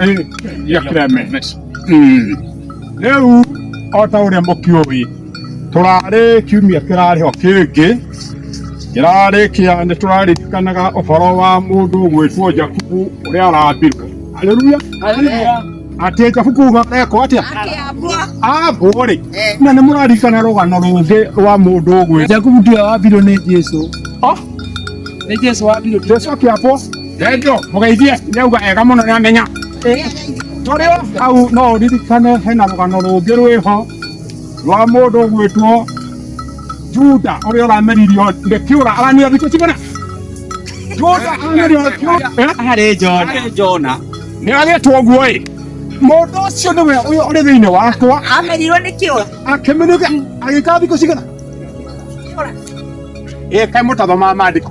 Eh, ya kireme Merci. Mm. rĩu o ta ũrĩa mũkĩũĩ tũrarĩ kiumia kĩrarĩ ho kĩngĩ kĩrarĩ kĩa nĩ tũraririkanaga ũhoro wa mũndũ gwĩtwo jakubu ũrĩa arambirwo aleluya atĩ jakubu ekwo atĩa ambwo rĩ na nĩ mũraririkana rũgano rũngĩ rwa mũndũ gwĩ Jakubu ndio wabirwo nĩ Jesu. Oh, Nĩ Jesu wabirwo. jesu akĩambwo Ndeto mũgeithie nĩauga ega mũno nĩ amenya tũrĩ o hau no ũririkane hena rũgano rũngĩ rwĩho rwa mũndũ ũgwĩtwo Juda ũrĩa ũrameririo nĩ kĩũra aramira thikũ cigana Juda arameririo nĩ kĩũra harĩ Jona harĩ Jona nĩ agĩtwo ũguo ĩ mũndũ ũcio nĩwe ũyũ ũrĩ thĩinĩ wakwa amerirwo nĩ kĩũra akĩmenuka agĩka thikũ cigana ĩka mũtatho ma mandĩko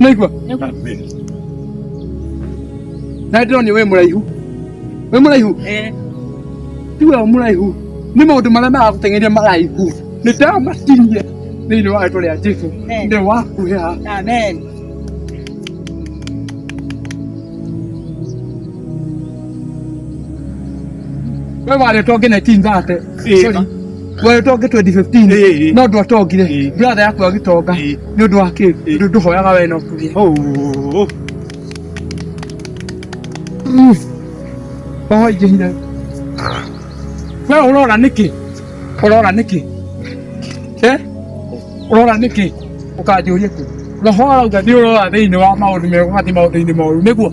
Naigua? Amen. Na ndĩrona wĩ mũraihu. Wĩ mũraihu? Eh. Ti we mũraihu. Nĩ maũndũ marĩa maragũteng'eria maraihu. Nĩ ndamatinie thĩinĩ wa rĩtwa rĩa Jesu. Amen. Ndĩ wakuhĩha. Amen. We warĩtwo nginya itinga ate. Sorry. Wewe tonge 2015 Eh, eh. no ndwa tongire Eh. brother yaku agitonga Eh. ni undu wa ki Eh. ndu nduhoyaga we no kuria Oh, oh, oh. oho ingihire we urora niki urora niki eh urora niki ukanjuria ku roho arauga ni urora thiini wa maundu mega ugathi maundu-ini moru niguo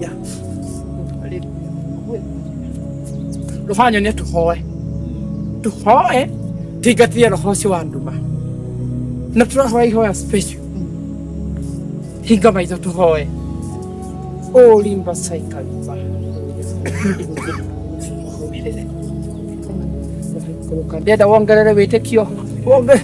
Ya. Rũbanyo nĩ tũhoe tũhoe tũingatithie roho ũcio wa nduma na tũrahoya ihoya special hinga maitho tũhoe ũrimba caikariba ndenda wongerere wĩtĩkio wonge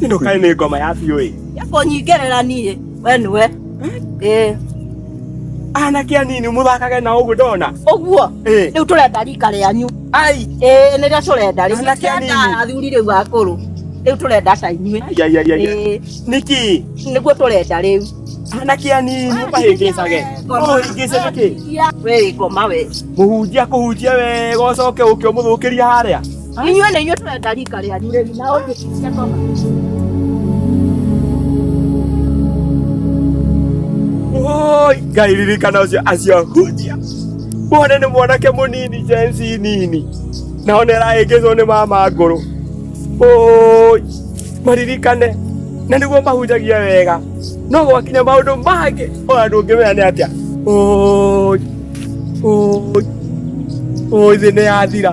Ino kai ni ngoma ya biũ ĩ. Yako nyingerera niĩ we nĩwe ĩĩ Anake anini mũthakage na ũguo ndona. ũguo Ĩĩ. rĩu tũrenda rika rĩanyu Ai. ĩĩ nĩrĩo tũrenda rĩu Anake anini. tũrenda athuri rĩu akũrũ rĩu tũrenda ta inyuĩ Ai, ai, ai, ai. Ĩĩ, Niki. nĩguo tũrenda rĩu Anake anini mũkahĩngĩcage. Mũhĩngĩce nĩkĩ? we ngoma we Mũhunjia kũhunjia wega ũcoke ũke ũmũthũkĩria harĩa. Inyuĩ nĩ inyuĩ tũrenda rika rĩanyu rĩu na ũndũ cia ngoma. Oi, Ngai ririkana ũcio acio hunjia muone nĩ mwanake mũnini jensi nini nao nĩ arahĩngĩcwo nĩ mama ngũrũ Oi, maririkane na nĩguo mahunjagia wega no gwakinya maũndũ mangĩ ona ndũngĩmenya nĩ atĩa Oi, oi, oi thĩ nĩ yathira